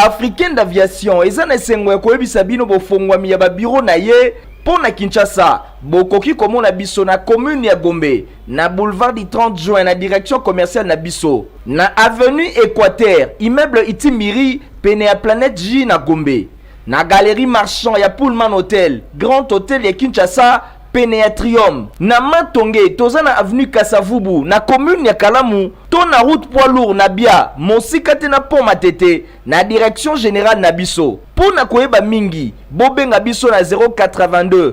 africaine d'aviation eza na esengo ya koyebisa bino bofongwami ya babiro na ye mpo na kinshasa bokoki komona biso na commune ya gombe na boulevard du 30 juin na direction commerciale na biso na avenue équateur immeuble itimiri pene ya planète j na gombe na Galerie Marchand ya Pullman Hotel, Grand Hotel ya Kinshasa, pene ya Trium, na Matonge toza na avenue Kasavubu na commune ya Kalamu to na route poids lourd na Bia, mosika te na pont Matete na direction generale na biso. Mpo na koyeba mingi, bobenga biso na 082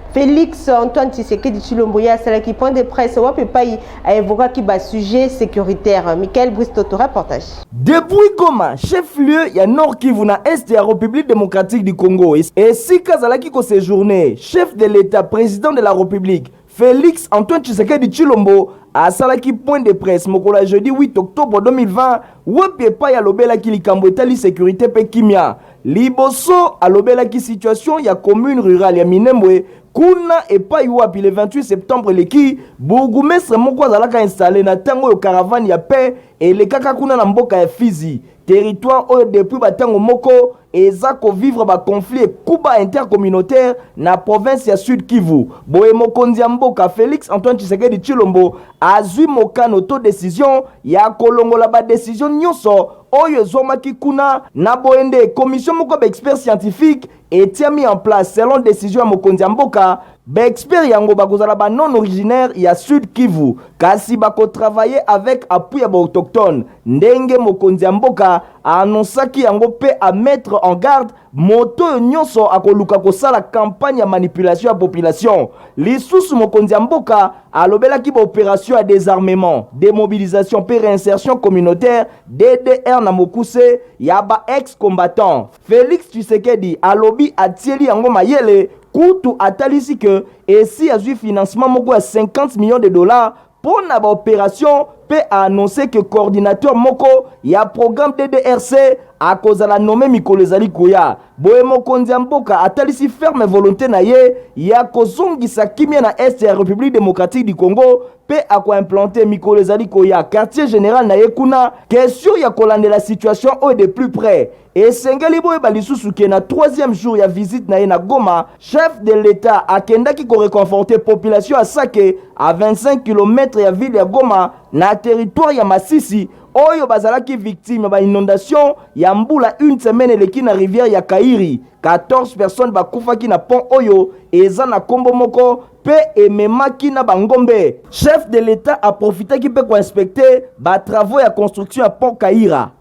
Felix Antoine Tshisekedi Chilombo ye asalaki point de presse wapi epai aevokaki basujet sécuritaire Michael Bristoto reportage Depuis Goma, chef-lieu ya Nord Kivu na Est ya Republique démocratique du Congo, esika azalaki ko sejourner, chef de l'Etat president de la Republique, Felix Antoine Tshisekedi Tshilombo asalaki point de presse mokolo ya jeudi 8 octobre 2020 wapi epai alobelaki likambo etali securite mpe kimya Liboso alobelaki situation ya commune rurale ya Minembwe kuna epayi wapi le 28 septembre eleki bourgoumestre moko azalaka installe na tango oyo caravane ya paix elekaka kuna na mboka ya Fizi, territoire oyo depuis ba tango moko eza ko vivre ba conflits ekuba intercommunautaire na province ya Sud Kivu. Boye mokonzi ya mboka Felix Antoine Tshisekedi Tshilombo azui mokano to decision ya kolongola ba decisions nionso oyo ezwamaki kuna, na boye nde commission moko ya ba experts scientifiques etiami en place selon decision ya mokonzi ya mboka. Ba experts yango bakozala ba non originaires ya Sud Kivu, kasi bako travailler avec appui ya ba autochtones, ndenge mokonzi ya mboka a annoncaki yango mpe a mettre en garde moto oyo nyonso akoluka kosala kampanye ya manipulation ya population. Lisusu, mokonzi ya mboka alobelaki ba operation ya desarmement, demobilisation mpe reinsertion communautaire DDR na mokuse ya ba ex combattants. Felix Tshisekedi alobi atieli yango mayele, kutu atalisi que esi azwi financement moko ya 50 millions de dollars mpo na ba operation mpe a annonce que coordinateur moko ya programme DDRC akozala nomme mikolo ezali koya. Boye mokonzi ya mboka atalisi ferme volonte na ye ya kozongisa kimia na est ya Republique democratique du Congo mpe akoimplante mikolo ezali koya quartier general na ye kuna. Question ya kolandela situation oyo de plus près Esengeli boyeba lisusu que na troisième jour ya visite na ye na Goma, chef de l'Etat akendaki ko reconforter population ya Sake, à 25 kilomètres ya ville ya Goma, na territoire ya Masisi, oyo bazalaki victimes ya ba inondations ya mbula une semaine eleki na rivière ya Kairi. 14 personnes bakufaki na pont oyo eza na kombo moko mpe ememaki na ba ngombe. Chef de l'Etat aprofitaki mpe ko inspecter ba travaux ya construction ya pont Kaira.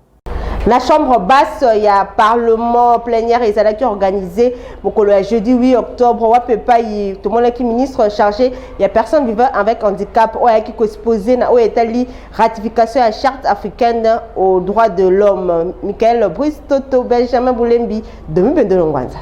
La chambre basse ya parlement plénière ezalaki organisé mokolo ya jeudi 8 octobre wapi epai tomonaki ministre chargé ya personne vivant avec handicap oyo ayaki koexpose na oyo etali ratification ya charte africaine aux droits de l'homme michael bruce toto benjamin bulembi domi bendolongwanza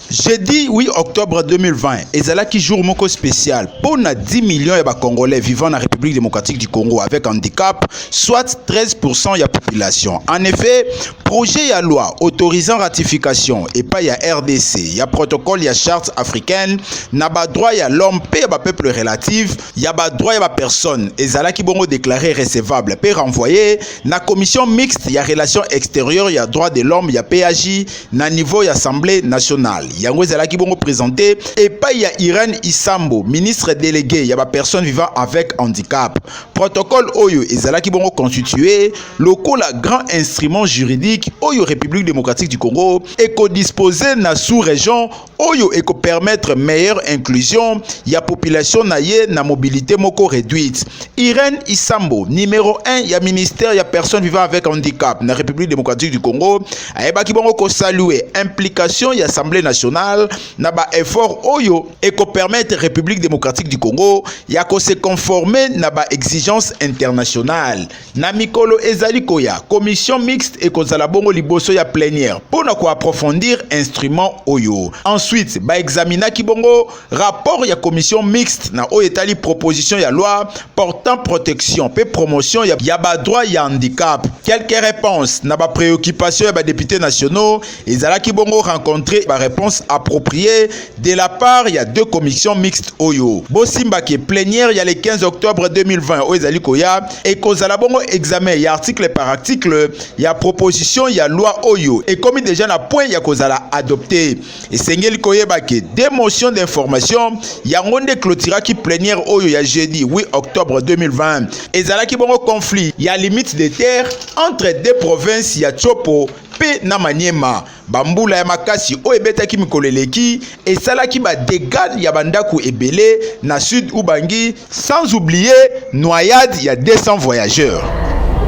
Jeudi 8 octobre 2020 ezalaki jour moko spécial pour na 10 millions ya congolais vivant na République démocratique du Congo avec handicap, soit 13% ya population. En effet, projet ya loi autorisant ratification et pas ya RDC ya protocole ya charte africaine na ba droits ya l'homme pe ya ba peuples relatifs ya ba droits ya ba personnes ezalaki bongo déclaré recevable pe renvoyé na commission mixte ya relations extérieures ya droits de l'homme ya PAJ na niveau ya assemblée nationale yango ezalaki bongo présente epai ya irène isambo ministre délégué ya bapersonne vivant avec handicap protocole oyo ezalaki bongo constitue lokola grand instrument juridique oyo république démocratique du congo ekodispose na sous-région oyo permettre meilleure inclusion ya population na ye na mobilité moko réduite. Irène Isambo, numéro 1 ya ministère ya personnes vivant avec handicap na République démocratique du Congo, ayebaki bango ko saluer implication ya Assemblée nationale na ba efforts oyo permettre République démocratique du Congo ya ko se conformer na ba exigences internationales. Na mikolo ezali koya, commission mixte ekozala bongo liboso ya plenière mpo na koaprofondir instrument oyo. Ensuite, baexaminaki bongo rapport ya commission mixte na oyo etali proposition ya loi portant protection mpe promotion ya, ya badroit ya handicap. Quelques reponses na bapreoccupation ya badepute nationaux ezalaki bongo rencontrer ba réponse appropriée de la part ya deux commissions mixtes oyo bosimba ke plénière ya le 15 octobre 2020 oyo ezali koya ekozala bongo examen ya article par article ya proposition ya loi oyo ekomi deja na point ya kozala adopte esengeli koyeba ke deux motions d'information yango nde clôturaki plénière oyo ya jeudi 8 octobre 2020 ezalaki bongo conflit ya limite de terre entre deux provinces ya Tshopo mpe na Maniema. Bambula ya makasi oyo ebetaki mikolo eleki esalaki ba degats ya bandako ebele na sud Ubangi, sans oublier noyade ya 200 voyageurs.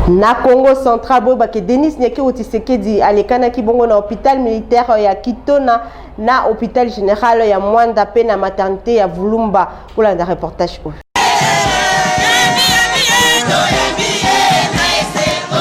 Na Congo central boyeba ke Denis Nyakero Tshisekedi alekanaki bongo na hôpital militaire ya Kitona na hôpital général ya Mwanda mpe na maternité ya Vulumba kolanda reportage oyo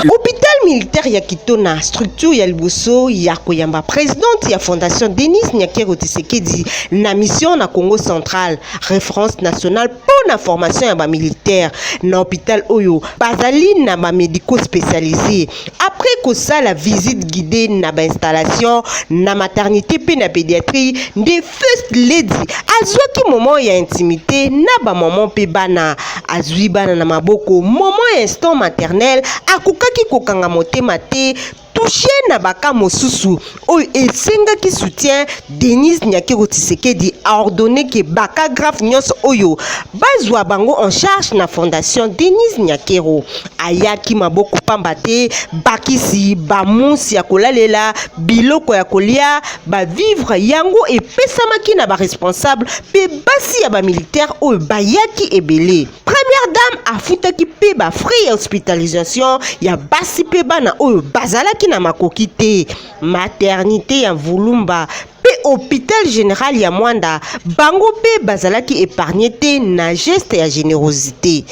hôpital militaire ya kitona structure ya liboso ya koyamba présidente ya fondation denis nyakero tisekedi na mission na congo central référence nationale mpo na formation ya bamilitaire na hôpital oyo bazali na bamédico spécialisé Après kosala visite guidée na ba installation na maternité mpe na pédiatrie nde first lady azwaki moment ya intimité na bamama mpe bana. Azwi bana na maboko moment ya instant maternel akokaki kokanga motema te touche na baka mosusu oyo esengaki soutien denise nyakero tisekedi aordonne ke bacagraphe nyonso oyo bazwa bango en charge na fondation denise nyakero ayaki maboko pamba te bakisi bamonsi ya kolalela biloko ya kolia bavivre yango epesamaki na baresponsable mpe basi ya bamilitaire oyo bayaki ebele Première dame afutaki mpe ba frais ya hospitalisation ya basi mpe bana oyo bazalaki na makoki te. Maternité ya Vulumba mpe hôpital général ya Mwanda, bango mpe bazalaki épargne te na geste ya générosité.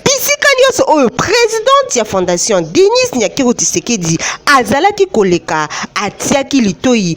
Bisika nyonso oyo presidente ya fondation Denise Nyakero Tshisekedi azalaki koleka, atiaki litoyi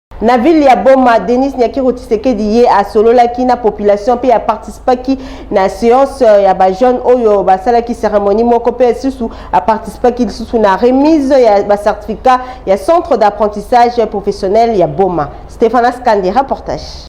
Na ville ya Boma, Denis Nyakiro Tshisekedi ye asololaki na population mpe aparticipaki na seance euh, ya ba jeunes oyo basalaki cérémonie moko mpe lisusu aparticipaki lisusu na remise ya ba certificat ya centre d'apprentissage professionnel ya Boma. Stéphanas Kande, reportage.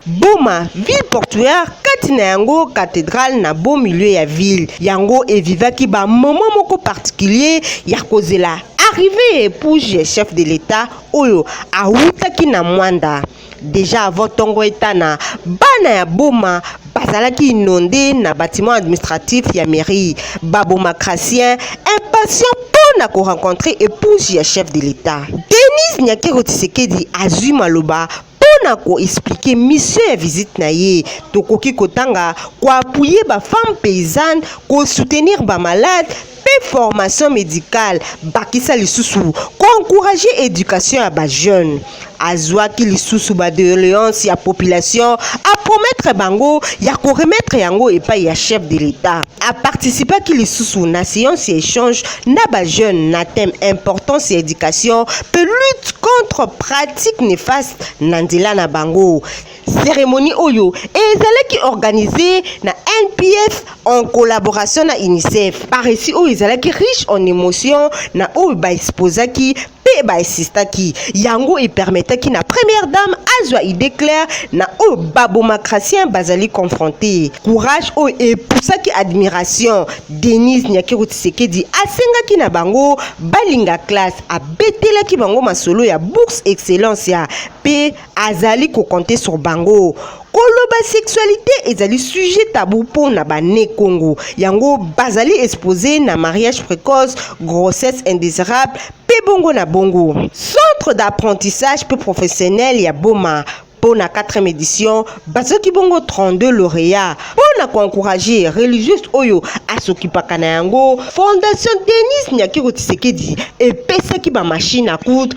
Boma, ville portuaire kati na yango cathedrale na beau milieu ya ville yango evivaki ba moment moko particulier ya kozela arrivée ya épouse ya chef de l'État oyo awutaki na Mwanda. Deja avant ntongo etana, bana ya Boma bazalaki inonde na bâtiment administratif ya mairie. Ba Bomacratiens impatients mpo na korencontre épouse ya chef de l'État. Denise Nyakero Tshisekedi azwi maloba mpona ko expliquer mission ya visite na ye tokoki kotanga ko appuyer ba femmes paysannes ko soutenir ba malades mpe formation médicale bakisa lisusu ko encourager éducation ya ba jeunes azwaki lisusu ba doléances ya population a promettre bango ya ko remettre yango epai ya chef de l'État a participaki lisusu na séance ya échange na ba jeunes na thème importance ya éducation mpe lutte contre pratique néfaste na nzela na bango cérémonie oyo ezalaki organisée na NPF en collaboration na UNICEF. Paresi oyo ezalaki riche en émotion na oyo ba exposaki mpe ba insistaki yango epermetaki na première dame azwa idée claire na oyo babomacratien bazali confronte courage oyo epusaki admiration denise nyakeru tisekedi asengaki na bango balinga classe abetelaki bango masolo ya bourse excellence ya mpe azali ko compter sur bango koloba sexualité ezali sujet tabou mpo na bane congo yango bazali expose na mariage précoce grossesse indésirable mpe bongo na bongo centre d'apprentissage mpe professionnel ya boma mpo na 4e édition bazoki bongo 32 lauréat mpo na koencourage religieuse oyo asokipaka na yango fondation denis nyakiro tisekedi epesaki bamashine à coudre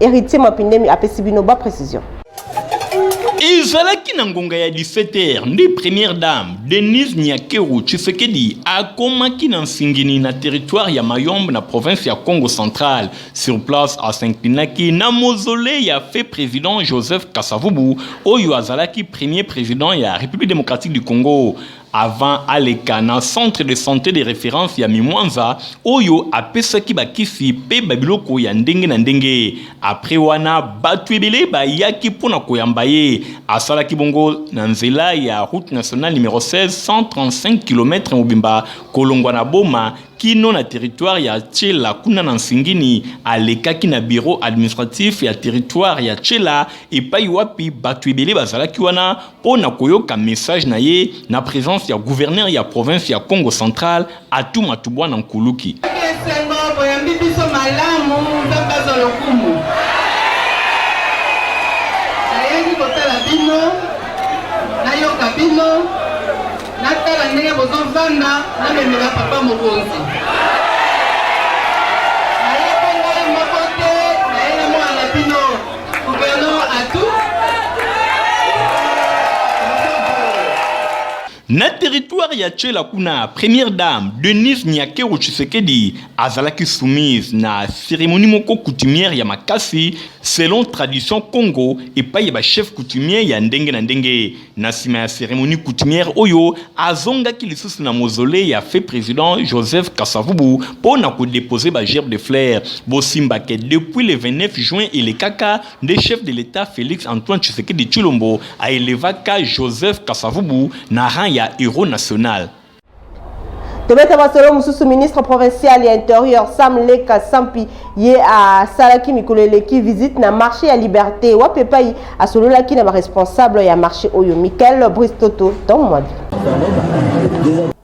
Heritier Mapindemi apesi bino ba precision. ezalaki na ngonga ya 17h nde première dame denise nyakeru tshisekedi akomaki na nsingini na territoire ya mayombe na province ya congo central sur place asinklinaki na mozole ya fe président joseph kasavubu oyo azalaki premier président ya république démocratique du congo avant aleka na centre de sante de reference ya Mimwanza oyo apesaki bakisi mpe babiloko ya ndenge na ndenge. Apres wana batu ebele bayaki mpo na koyamba ye. Asalaki bongo na nzela ya route nationale numero 16 135 km mobimba kolongwa na Boma kino na territoire ya Tshela kuna na Nsingini. Alekaki na bureau administratif ya territoire ya Tshela epai wapi batu ebele bazalaki wana mpo na koyoka message na ye na presence ya gouverneur ya province ya Congo central Atou Matubwana Nkuluki. Esengo boyambi biso malamu, Nzambe azwa lokumu. Nayaki kotala bino, nayoka bino, natala ndenge bozovanda, namemela papa mokonzi. Na territoire ya Tshela kuna, première dame Denise Nyakero Tshisekedi azalaki soumise na cérémonie moko coutumière ya makasi selon tradition Congo epai ya ba chef coutumier ya ndenge na ndenge. Na nsima ya ceremonie coutumière oyo, azongaki lisusu na mausolee ya feu president Joseph Kasavubu mpo na ko deposer ba gerbes de fleurs. Bosimba que depuis le 29 juin elekaka nde chef de l'Etat Felix Antoine Tshisekedi Tshilombo a elevaka Joseph Kasavubu na rang ya heros national. tobeta masolo mosusu ministre provincial ya interieur sam leka sampi ye asalaki mikolo eleki visite na marché ya liberté wapi epai asololaki na baresponsable ya marché oyo michael bristoto tomwadi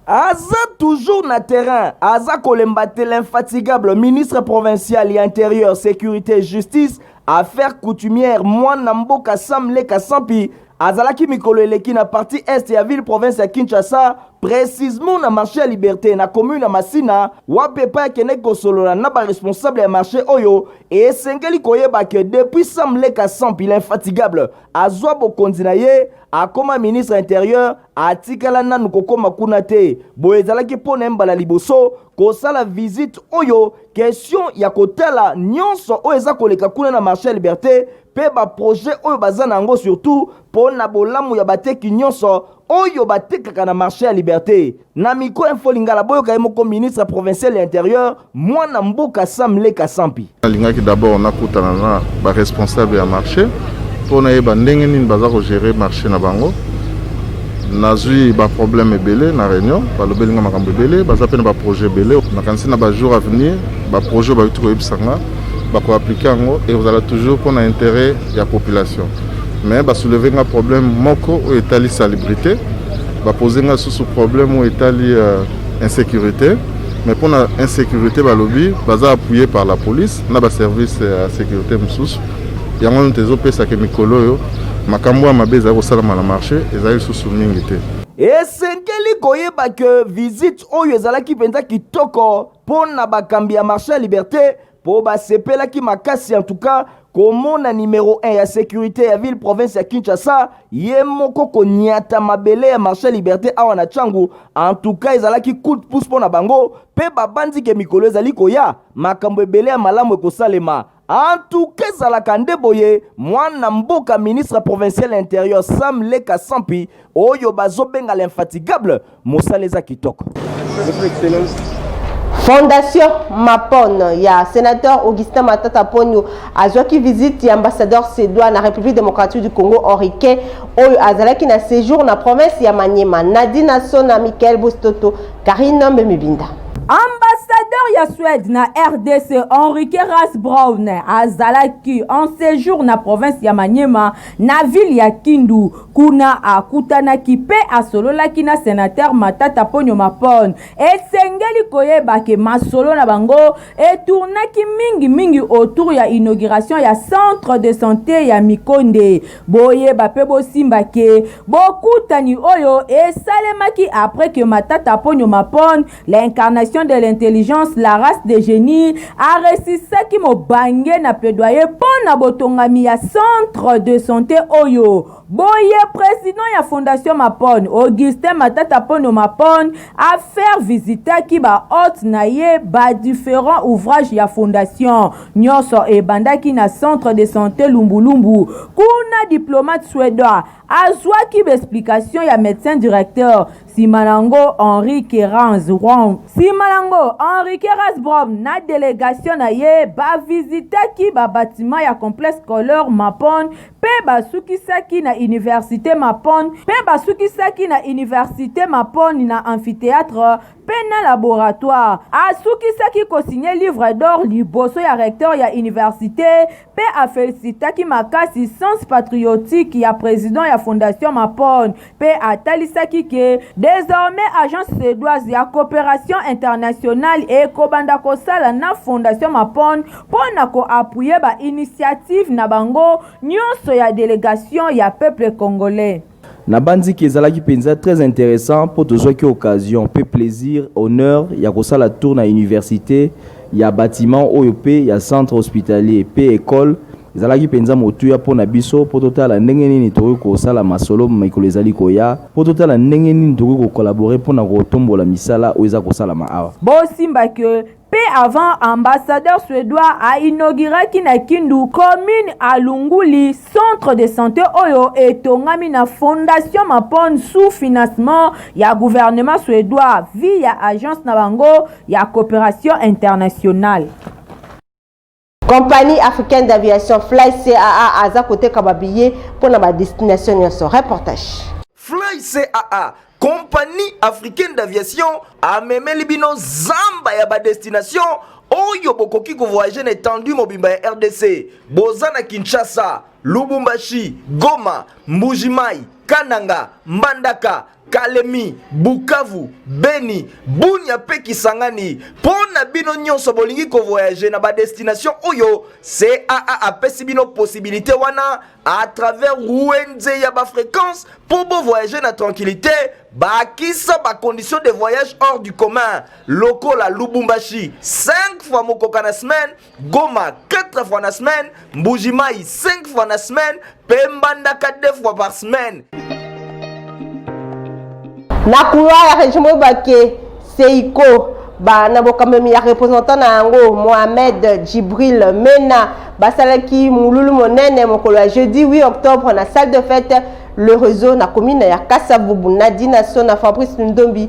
aza toujours na terrain aza kolemba te l'infatigable ministre provincial ya interieur sécurité justice affaire coutumière mwana mboka sam leka sampi Azalaki mikolo eleki na parti est ya ville province ya Kinshasa, precisement na marché ya Liberte na commune ya Masina, wapi epai akendeki kosolola na ba responsable ya marché oyo esengeli koyeba que depuis Sam Leka Sampi l'infatigable azwa bokonzi na ye akoma ministre ya interieur atikala nanu kokoma kuna te. Boye ezalaki mpo na ye mbala liboso kosala visite oyo question ya kotala nyonso oyo eza koleka kuna na marché ya Liberte mpe baproje oyo baza na yango surtout mpo na bolamu ya bateki nyonso oyo batekaka na marché ya liberte na micro info lingala boyoka ye moko ministre provincial ya interieur mwana mboka sam leka sampi nalingaki d'abord nakutana na baresponsable ya marché mpo nayeba ndenge nini baza kogere marché na bango nazwi baproblème ebele na réunion balobeli nga makambo ebele baza mpe na baprojet ebele nakanisi na bajour avenir baprojet oyo bayuti koyebisa nga bako appliquer yango ekozala toujours mpo na intérêt ya population mais basouleve nga problème moko oyo etali salubrité bapose nga lisusu problème oyo etali euh, insécurité mais mpo na insécurité balobi baza appuye par la police na baservice ya sécurité mosusu yango nte ezopesaka mikolo oyo makambo ya mabe ezali kosalama na marché ezali lisusu mingi te esengeli koyeba ke visite oyo ezalaki mpenza kitoko mpo na bakambi ya marche ya liberte mpo basepelaki makasi en tout cas komona numero 1 ya securite ya ville province ya kinshasa ye moko konyata mabele ya marche liberte awa na changu en tout cas ezalaki coup de pouce mpo na bango mpe babanzi ke mikolo ezali koya makambo ebele ya malamu ekosalema Antuka ezalaka nde boye, mwana mboka ministre provincial ya interieur Sam Leka Sampi oyo bazobenga l'infatigable, mosala eza kitoko. Fondation Mapon ya sénateur Augustin Matata Ponyo azwaki visite ya ambassadeur Sedwa na République démocratique du Congo Henriquet oyo azalaki na séjour na province ya Maniema. Nadina Sona Michael Bostoto Karine Nambe Mibinda. Ambassadeur ya Suède na RDC Henrique Rasbrown azalaki en séjour na province ya Maniema na ville ya Kindu. Kuna akutanaki mpe asololaki na senateur Matata Ponyo Mapon. Esengeli koyeba ke masolo na bango etournaki mingi mingi autour ya inauguration ya centre de santé ya Mikonde. Boyeba pe bosimba ke bokutani oyo esalemaki après que Matata Ponyo Mapon, l'incarnation de l'intelligence, la race des genies, a resisaki mobange na plaidoyer mpo na botongami ya centre de sante oyo. Boye president ya Fondation Mapon, Augustin Matata Ponyo Mapon, a faire visitaki ba hotes na ye ba differents ouvrages ya Fondation. Nionso ebandaki na centre de sante Lumbulumbu. Kuna diplomate suedois azwaki ba explications ya medecin directeur sima na ngo Henri Kerans Rom. Sima na ngo Henri Kerans Brom na delegation na ye ba visitaki ba batiments ya complexe scolaire Mapon mpe basukisaki na universite Mapon mpe basukisaki na universite Mapon na amphitheatre mpe na laboratoire. Asukisaki kosigne livre d'or liboso ya recteur ya universite mpe afelisitaki makasi sens patriotique ya president ya Fondation Mapon mpe atalisaki que desormais Agence suedoise ya cooperation internationale ekobanda kosala na Fondation Mapon mpo na ko appuyer ba initiatives na bango nionso ya delegation ya peuple congolais. Nabanzi que ezalaki mpenza très interessant mpo tozwaki occasion mpe plaisir, honneur ya kosala tour na universite, ya batiment oyo mpe ya centre hospitalier mpe ecole. Ezalaki mpenza motuya mpo na biso mpo totala ndenge nini tokoki kosala masolo mikolo ezali koya, mpo totala ndenge nini tokoki ko collaborer mpo na kotombola misala oyo eza kosalama awa. Bosimba que Peu avant, ambassadeur suedois a inauguraki na Kindu, commune Alunguli, centre de sante oyo etongami na Fondation Mapon sous financement ya gouvernement suedois via agence na bango ya cooperation internationale. Compagnie africaine d'aviation Fly CAA aza koteka ba billets mpo na ba destination nyonso. Reportage. Fly CAA Compagnie africaine d'aviation amemeli bino zamba ya ba destination oyo bokoki kovoyage na etendue mobimba ya rdc boza na kinshasa lubumbashi goma mbujimai kananga mbandaka Kalemi, Bukavu, Beni, Bunia pe Kisangani. Pona bino nyonso bolingi ko voyager na ba destination oyo CAA apesi bino possibilité wana à travers Wenze ya ba fréquence pour bo voyager na tranquillité bakisa ba conditions de voyage hors du commun lokola Lubumbashi 5 fois mokoka na semaine Goma 4 fois na semaine, Mbujimai 5 fois na semaine, Pembandaka 2 fois par semaine. Na couloir ya région Mobake, Seiko ba na bokamemi ya représentant na yango Mohamed Djibril Mena basalaki mululu monene mokolo ya jeudi 8 octobre na salle de fête le réseau na commune ya Kasavubu Nadina Sona Fabrice Ndombi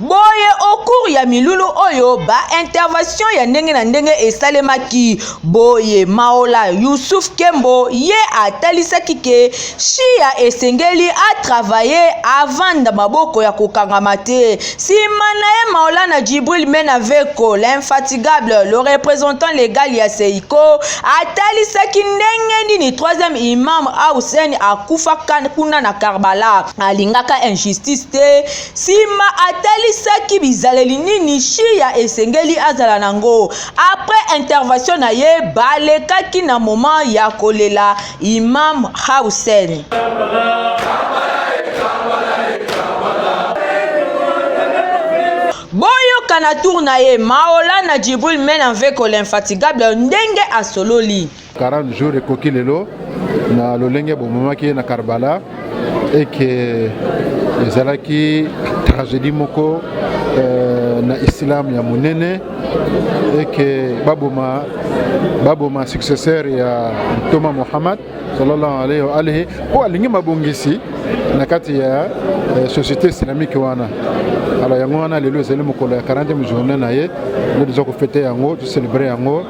Boye au cours ya milulu oyo ba intervention ya ndenge na ndenge esalemaki boye Maola Yusuf Kembo ye atalisaki ke Shia esengeli a travailler avanda maboko ya kokangama te sima na ye Maolana Djibril Menaveko l'infatigable le représentant legal ya Seiko atalisaki ndenge nini troisième imam Hussein akufaka kuna na Karbala alingaka injustice te Sima atalisaki bizaleli nini Shia esengeli azala na ngo. Après intervention na ye, balekaki na moment ya kolela Imam Hussein. Boyoka na tour na ye, Maolana Djibril Menanveko l'infatigable ndenge asololi. 40 jours ekoki lelo na lolenge bomemaki ye na karbala eke ezalaki tragédie moko euh, na islam ya monene eke baboma baboma successeur ya ntoma mohammad sallallahu alaihi wa alihi mpo alingi mabongisi na kati ya euh, société islamique wana alors yango wana lelo ezali mokolo ya 40 journée na ye nde toza kofete yango toselebre yango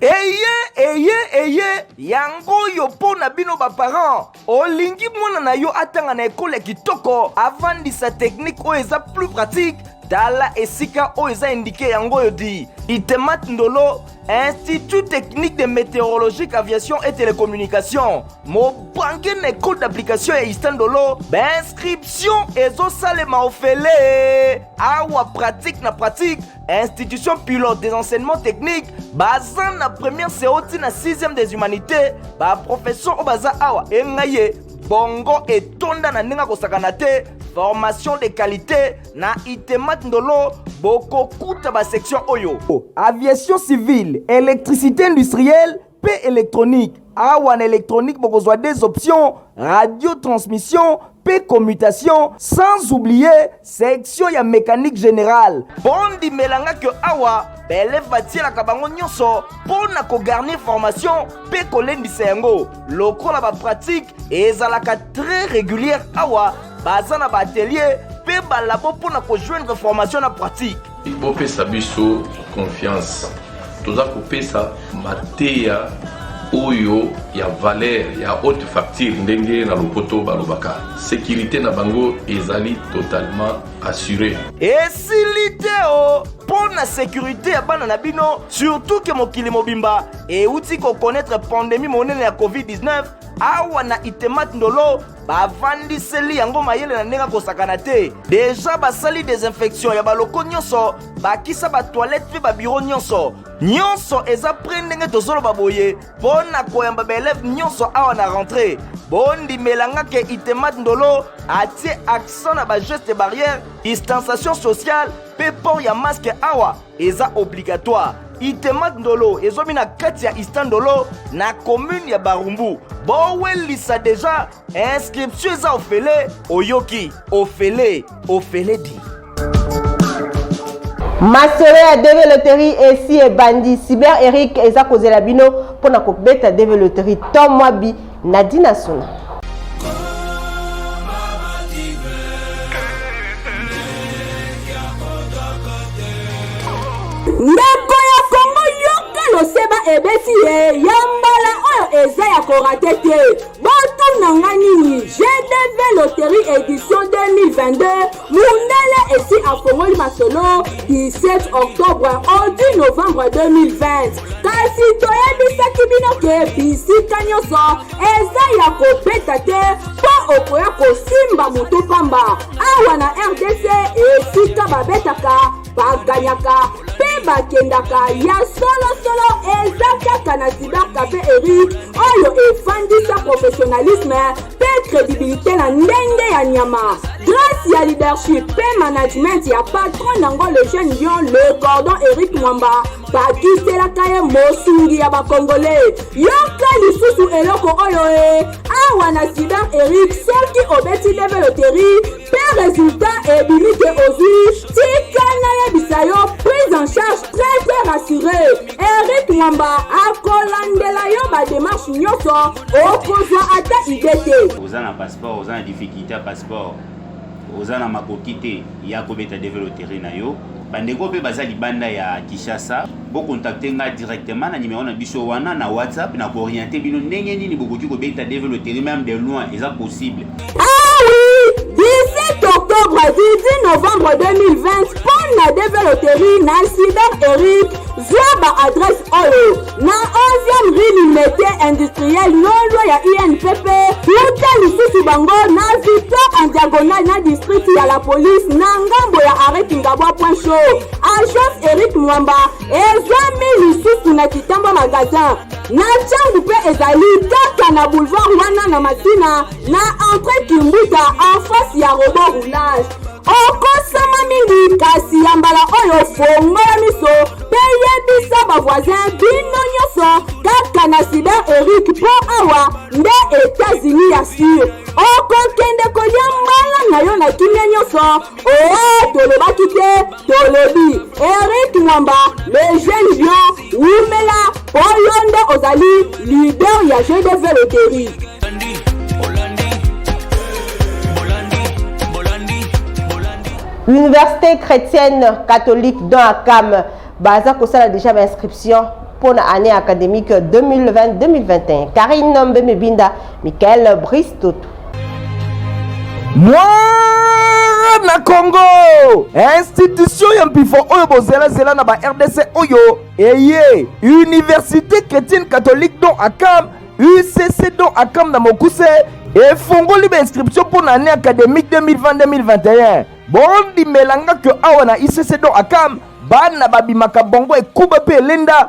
eye eye eye yango oyo mpo na bino baparent olingi mwana na yo atanga na ekolo ya kitoko avandisa teknike oyo eza plus pratique tala esika oyo eza indike yango oyo di itemat ndolo institut technique de météorologique aviation et télécommunication mobange na ekole d'application ya ista ndolo bainscription ezosalema ofele awa pratique na pratique institution pilote des enseignements techniques baza na première seo ti na 6e des humanités baprofesseur oyo baza awa engai ye bongo etonda na ndenge akosakana te formation de qualité na itemat ndolo bokokuta basection oyo aviation civile électricité industrielle mpe electronique awa na electronique bokozwa des options radio transmission mpe commutation sans oublier section ya mécanique générale bondimela nga ke awa baeleve batielaka bango nyonso mpo na kogarnir formation mpe kolendisa yango lokola bapratike ezalaka très régulière awa baza na baatelier mpe balabo mpo na kojoindre formation na pratique Bopesa biso confiance, toza kopesa mateya oyo ya valeur ya haute facture, ndenge na lopoto balobaka. Securite na bango ezali totalement assuree. Esili te o oh! mpo na sekurite ya bana na bino surtout ke mokili mobimba euti kokonetre pandemi monene ya covid-19 awa na itemat ndolo bavandiseli yango mayele na ndenge akosakana te deja basali desinfection ya baloko nyonso bakisa batoilette mpe babiro nyonso nyonso eza pre ndenge tozoloba boye mpo na koyamba baeleve nyonso awa na rentre bondimela nga ke itemat ndolo atie accent na bageste barrière distanciation sociale mpe port ya maske awa eza obligatoire itemat ndolo ezomi na kati ya ista ndolo na commune ya barumbu bowelisa deja inscription eza ofele oyoki ofele ofele di masolo ya deve loterie esi ebandi cyber eric eza kozela bino mpo na kobeta deve loterie to mwa bi Nadine Asuna. ndeko ya kongo yoka loseba ebeti ye ya mbala oyo eza ya korate te botuna nga nini gdv loterie edition 2022 Mundele esi afongoli masolo du 7 octobre au 10 novembre 2020 kasi toyebisaki bino ke bisika nyonso eza ya kobeta te mpo okoya kosimba moto pamba awa na rdc esika babetaka baganyaka mpe bakendaka ya solosolo eza kaka na cybercafe eric oyo efandisa professionnalisme mpe credibilité na ndenge ya nyama grâce ya leadership mpe management ya patron nango le jeune lion le cordon eric mwamba bakiselaka ye mosungi ya bakongole yoka lisusu eloko oyo e awa na cyber eric soki obeti level oteri Mpe resultat ebimi ke ozwi, tika nayebisa yo prise en charge très très rassuree. Eric Mwamba akolandela yo ba demarches nyonso, okozwa ata idee te. Oza na passeport, oza na difficulte ya passeport, oza na makoki te, ya kobeta develoterie na yo. Bandeko pe baza libanda ya Kishasa, bo contacter nga directement na numero na biso wana na WhatsApp na ko orienter bino ndenge nini bokoki ko beta Dave Lottery même de loin eza possible. Ah oui! 17 octobre 18 novembre 2020 pona Dave Lottery na incident Eric zwa ba adresse oyo na 11e rue limete industriel lolwa ya inpp uta lisusu bango na victoire en diagonale na district ya la police na ngambo ya arret kingabwa point chaud agence eric mwamba ezwami lisusu na kitamba magasin na ntango mpe ezali kaka na boulevard wana na masina na entre kimbuta en face ya robo roulage okosama mingi kasi ya mbala oyo fongola miso mpe yebisa bavoisin bino nyonso kaka na cyber eric mpo awa nde etats-unis ya sur okokende kolia mbala na yo na kimia nyonso oo tolobaki te tolobi eric mwamba le jeune bio Wumela po yo nde ozali leader ya jeu de veloterie. Université chrétienne catholique dans Akam baza kosala déjà ba inscription mpo na année académique 2020-2021 Karine Mbemebinda Michael Brice Toto mwana congo institution ya mpifo oyo bozelazela na ba rdc oyo eye université chrétienne catholique don akam ucc don akam na mokuse efongoli bainscription mpo na année académique 2020-2021 bondimela nga ke awa na ucc don akam bana babimaka bongo ekuba mpe elenda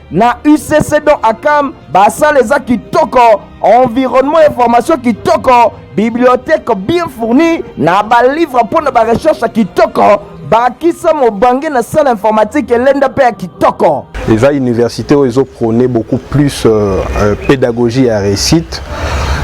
na ucc don akam basala eza kitoko environnement ya formation kitoko bibliothèque bien fourni na balivre mpo na barecherche kitoko bakisa mobange na salle informatique elenda mpe ya kitoko eza université oyo ezoprône beaucoup plus euh, euh, pédagogie ya réussite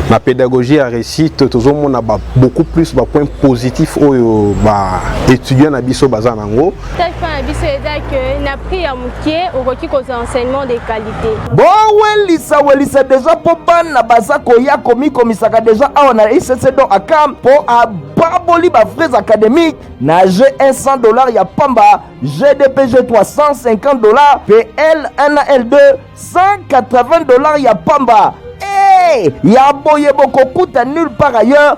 na pédagogie ya réussite tozomona beaucoup plus bapoint positif oyo baétudiant na biso baza na yango Stage plan na biso eza que na prix ya moke okoki kozwa enseignement de qualité. bowelisa welisa deja mpo bana baza koya komikomisaka deja awa na icc don akam mpo ababoli bafrais académique na g 100 dollars ya pamba gdpg 350 dollars mpe l1 na l2 180 dollars ya pamba e ya boye bokokuta nulle part ailleurs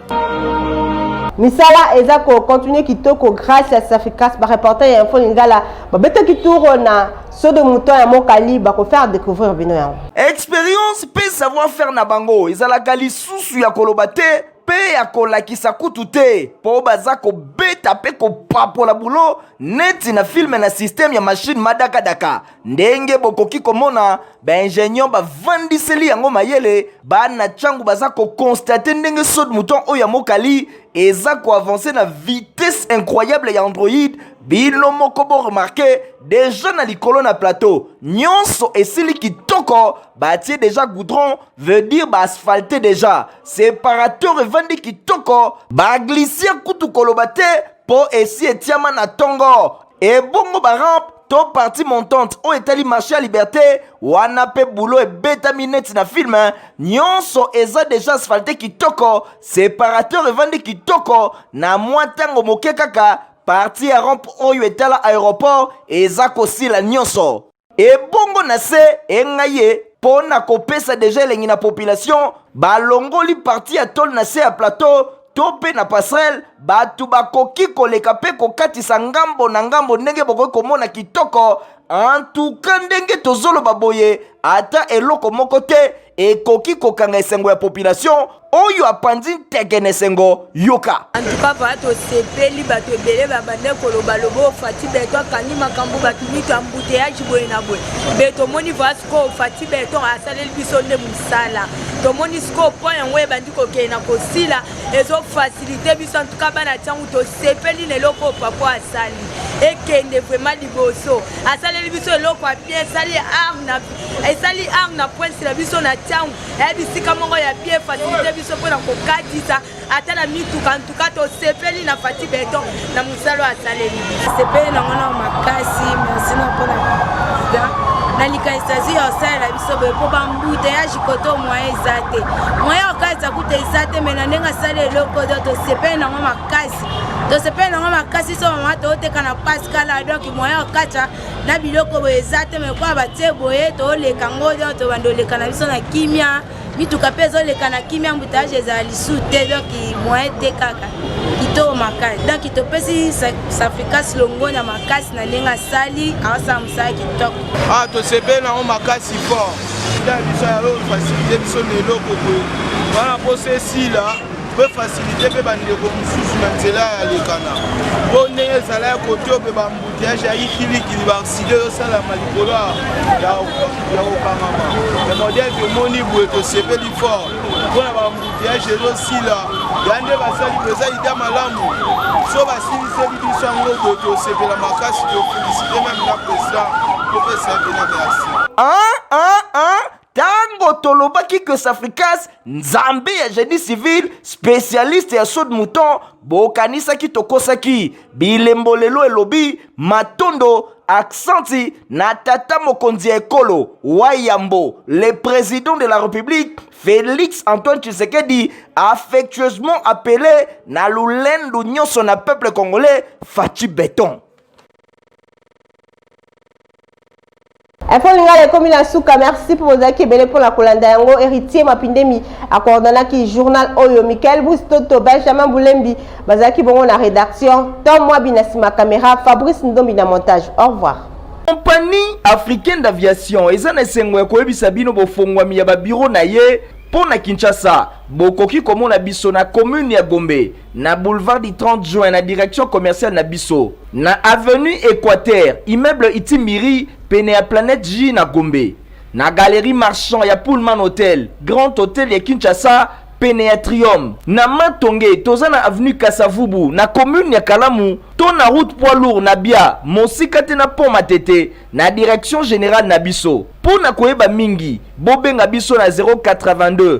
misala eza kocontinue kitoko grâce ya saficas bareporter ya info lingala babetaki tour na sodo mouton ya mokali bakofaire découvrir bino yango expérience mpe savoir faire na bango ezalaka lisusu ya koloba te mpe ya kolakisa kutu te mpo baza kobeta mpe kopapola bulo neti na filme na systeme ya mashine madakadaka ndenge bokoki komona baingenieur bavandiseli yango mayele bana ntango baza kokonstate ndenge sod mouton oyo ya mokali eza koavanse na vitesse incroyable ya android bino moko boremarke deja na likolo na plateau nyonso esili kitoko batie deja goudron veut dire baasphalte deja separateur evandi kitoko baglisia kutu koloba te mpo esi etiama na ntongo ebongo barampe to partie montante oyo etali marché ya liberté wana mpe bulo ebetami neti na film nyonso eza deja asphalte kitoko separateur evandi kitoko na mwa ntango moke kaka parti ya rompe oyo etala aéroport eza kosila nyonso ebongo na se engai ye mpo na kopesa deja elengi na population balongoli parti ya tole na se ya plateau to mpe na passerelle bato bakoki koleka mpe kokatisa ngambo na ngambo ndenge bokoki komona kitoko antuka ndenge tozoloba boye ata eloko moko te ekoki kokanga esengo ya population oyo apanzi nteke na esengo yoka antuka vala tosepeli bato ebele babande koloba lobo ofati beton akangi makambo bato mitu ya mbuteyaji boye na boye mpe tomoni vala sikoyo ofati beton asaleli biso nde mosala tomoni sikoyo mpo yango ebandi kokende na kosila ezofasilite biso antuka bana ntango tosepeli na eloko oyo pako asali ekende vraimen liboso asaleli biso eloko ya bien esali arna esali arme na prince na biso na ntango eya bisika moko ya bien fasilite biso mpo na kokatisa ata na mituka ka tosepeli na fati beton na mosala asaleli sepeli na ngana makasi merci na mpona president na likanisi azwi ya osalela biso boye mpo bambuteyaji kote moyen eza te moyen okalisa kuta eza te mai na ndenge asali eloko to tosepeli nango makasi tosepeli nango makasi so mama tooteka na paskala donk moyen okacha na biloko boye eza te mai kwa batie boye tooleka ngo donk tobanda oleka na biso na kimia mituka mpe ezoleka na kimia embouteillage ezala lisu te donc moyen te kaka kitoko makasi donc topesi safricas longo na makasi na ndenge asali aosala mosala kitoko ah tosepeli nango makasi fort ya biso yayo fasilite biso na eloko boye wana mposa esila mpe fasilite mpe bandeko mosusu na nzela ya lekana mpo ndenge ezala ya kote ope Mutiage ya ikilikili baakside ezosalama likolo ya kokangama ya modele tomoni boye tosepeli fort mpo na bamutiage ezosila ya nde basali mpenza ida malamu so basiliseli biso yango boye tosepela makasi tofelisite meme na president topesa ye mpena merci Tango tolobaki que Safricas nzambe ya génie civil spécialiste ya saut de mouton bokanisaki tokosaki bilembo lelo elobi matondo aksanti na tata mokonzi ya ekolo wayambo le président de la république félix antoine tshisekedi affectueusement appelé na lolendo nyonso na peuple congolais faci beton info lingala ekomi na suka merci mpo bozalaki ebele mpo na kolanda yango héritier mapindemi akoordonaki journal oyo michael bustoto benjamin bulembi bazalaki bongo na rédaction tom mwabi na nsima caméra fabrice ndombi na montage au revoir compagnie africaine d'aviation eza na esengo ya koyebisa bino bofongwami ya babiro na ye mpo na kinshasa bokoki komona biso na commune ya gombe na boulevard du 30 juin na direction commerciale na biso na avenue équateur immeuble itimiri pene ya planète j na gombe na galerie marchand ya pullman hotel grand hotel ya kinshasa pene ya triome na matonge toza na avenue kasavubu na commune ya kalamu to na route poids lourd na bia mosika te na pont matete na direction générale na biso mpo na koyeba mingi bobenga biso na 082